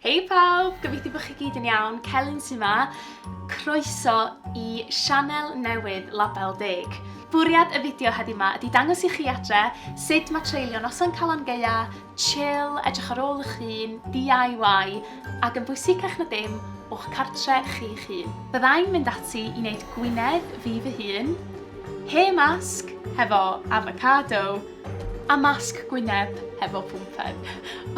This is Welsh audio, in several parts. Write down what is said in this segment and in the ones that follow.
Hei pawb! Gobeithio bod chi gyd yn iawn, Celyn sy'n ma. Croeso i sianel newydd Label Deg. Bwriad y fideo heddi ma ydi dangos i chi adre sut mae treulio noson Calan Gaea, chill, edrych ar ôl eich hun, DIY, ac yn bwysicach na dim, o'ch cartre chi'ch hun. Byddai'n mynd ati i wneud gwinedd fi fy hun, hair mask hefo avocado, A masg gwyneb hefo pwmpen.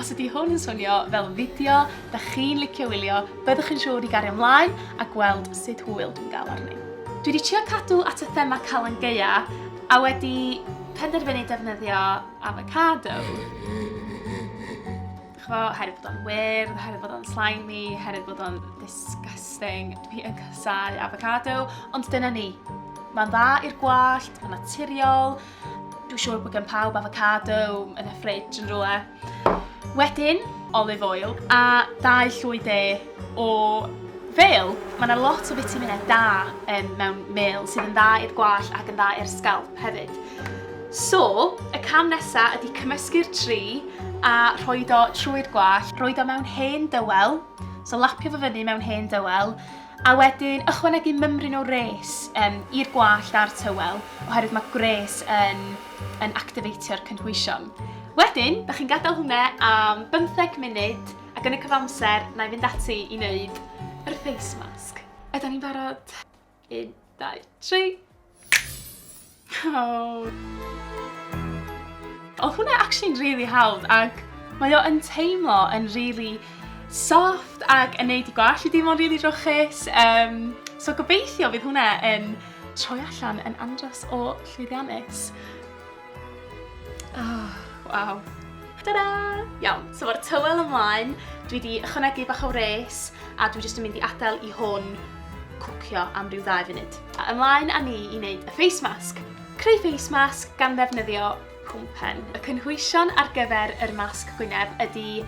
Os ydi hwn yn swnio fel fideo dach chi'n licio wylio, byddwch yn siŵr i gario mlaen a gweld sut hwyl dwi'n gael arni. Dwi 'di trio cadw at y thema Calan Gaea a wedi penderfynu defnyddio afocado. Ch'mo', oherwydd bod o'n wyrdd, oherwydd bod o'n slimy, oherwydd bod o'n disgusting, dwi yn casáu afocado, ond dyna ni. Ma'n dda i'r gwallt, ma'n naturiol, Dwi'n siŵr bod gen pawb avocado yn y ffridge yn rhywle. Wedyn, olive oil a dau llwy de o fel. Mae yna lot o fitaminau da um, mewn mel sydd yn dda i'r gwall ac yn dda i'r sgalp hefyd. So, y cam nesaf ydy cymysgu'r tri a rhoi do trwy'r gwall, rhoi do mewn hen dywel, so lapio fo fyny mewn hen dywel, A wedyn ychwanegu mymryn o wres yym i'r gwallt a'r tywel oherwydd mae gwres yn yn activeitio'r cynhwysion. Wedyn, da chi'n gadael hwnna am bymtheg munud ac yn y cyfamser na i fynd ati i wneud yr face mask. Ydan ni'n barod? Un, dau, tri. Oh. Oedd hwnna actually'n really hawdd ac mae o yn teimlo yn really soft ac yn neud i gwallt i deimlo'n really drwchus. Um, so gobeithio fydd hwnna yn troi allan yn andros o llwyddiannus. Oh, waw. Ta-da! Iawn, so fo'r tywel ymlaen, dwi wedi ychwanegu bach o wres a dwi jyst yn mynd i adael i hwn cwcio am ryw ddau funud. A ymlaen â ni i wneud y face mask. Creu face mask gan ddefnyddio pwmpen. Y cynhwysion ar gyfer yr masg gwyneb ydy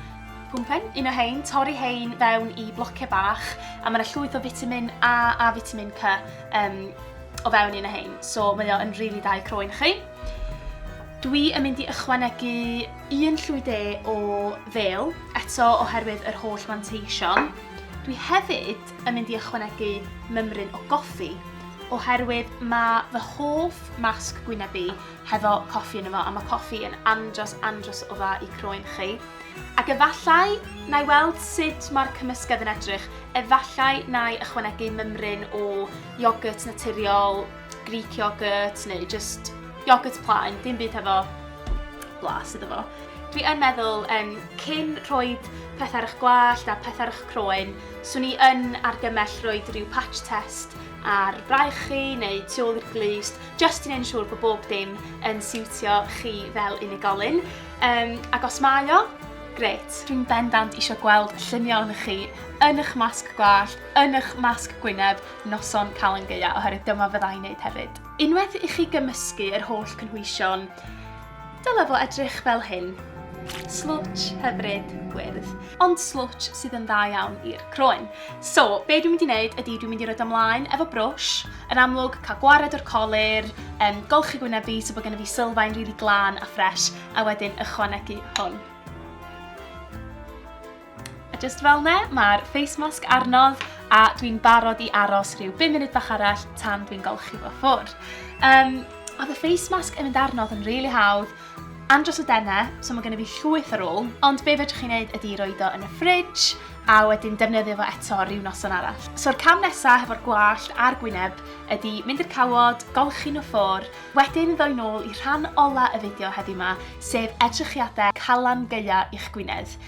pwmpen, un o hein, torri hein fewn i blociau bach a mae yna llwyth o fitamin A a fitamin C um, o fewn un o hein, so mae o yn rili dau croen chi. Dwi yn mynd i ychwanegu un llwy de o fel, eto oherwydd yr holl fanteision. Dwi hefyd yn mynd i ychwanegu mymryn o goffi, oherwydd mae fy hoff masg gwyneb i hefo coffi yn yma, a mae coffi yn andros andros o dda i croen chi. Ac efallai, na i weld sut mae'r cymysgedd yn edrych, efallai na i ychwanegu mymryn o Iogwrt naturiol, Greek iogwrt neu just iogwrt plaen, dim byd hefo blas iddo fo. Dwi yn meddwl um, cyn rhoi peth ar eich gwallt a peth ar eich croen, swn i yn argymell rhoi rhyw patch test ar braich chi neu tu ôl i'r glust, just i wneud yn siŵr bod bob dim yn siwtio chi fel unigolyn. Um, ac os mae o, gret. Dwi'n bendant eisiau gweld lluniau ohonych chi yn eich masg gwallt yn eich masg gwyneb noson Calan Gaea, oherwydd dyma fydda i'n neud hefyd. Unwaith i chi gymysgu yr holl cynhwysion, dyle fo edrych fel hyn. Slwtsh hyfryd gwyrdd, ond slwtsh sydd yn dda iawn i'r croen. So, be dwi'n mynd i wneud ydy dwi'n mynd i roed ymlaen efo brwsh, yn amlwg cael gwared o'r colir, um, golchi gwyneb fi so bod gen i fi sylfaen rili really glân a ffres, a wedyn ychwanegu hwn. A just fel ne, mae'r face mask arnodd a dwi'n barod i aros rhyw 5 munud bach arall tan dwi'n golchi fo ffwrdd. Um, oedd y face mask yn mynd arnodd yn rili really hawdd, andros o denne, so mae gennym fi llwyth ar ôl, ond be fedrwch chi'n neud ydy roed o yn y ffridge a wedyn defnyddio fo eto rhyw noson arall. So'r cam nesaf hefo'r gwallt a'r gwyneb ydy mynd i'r cawod, golchi nhw ffwr, wedyn ddoi nôl i rhan ola y fideo heddi yma, sef edrychiadau calan gaea i'ch gwynedd.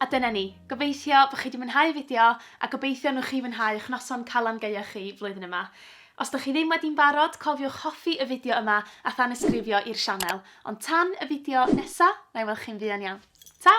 A dyna ni. Gobeithio bo' chi 'di mwynhau y fideo a gobeithio nwch chi fwynhau y'ch noson Calan Gaeaf chi flwyddyn yma. Os 'dych chi ddim wedi'n barod, cofiwch hoffi y fideo yma a thanysgrifio i'r sianel. Ond tan y fideo nesa, na'i weld chi'n fuan iawn. Ta!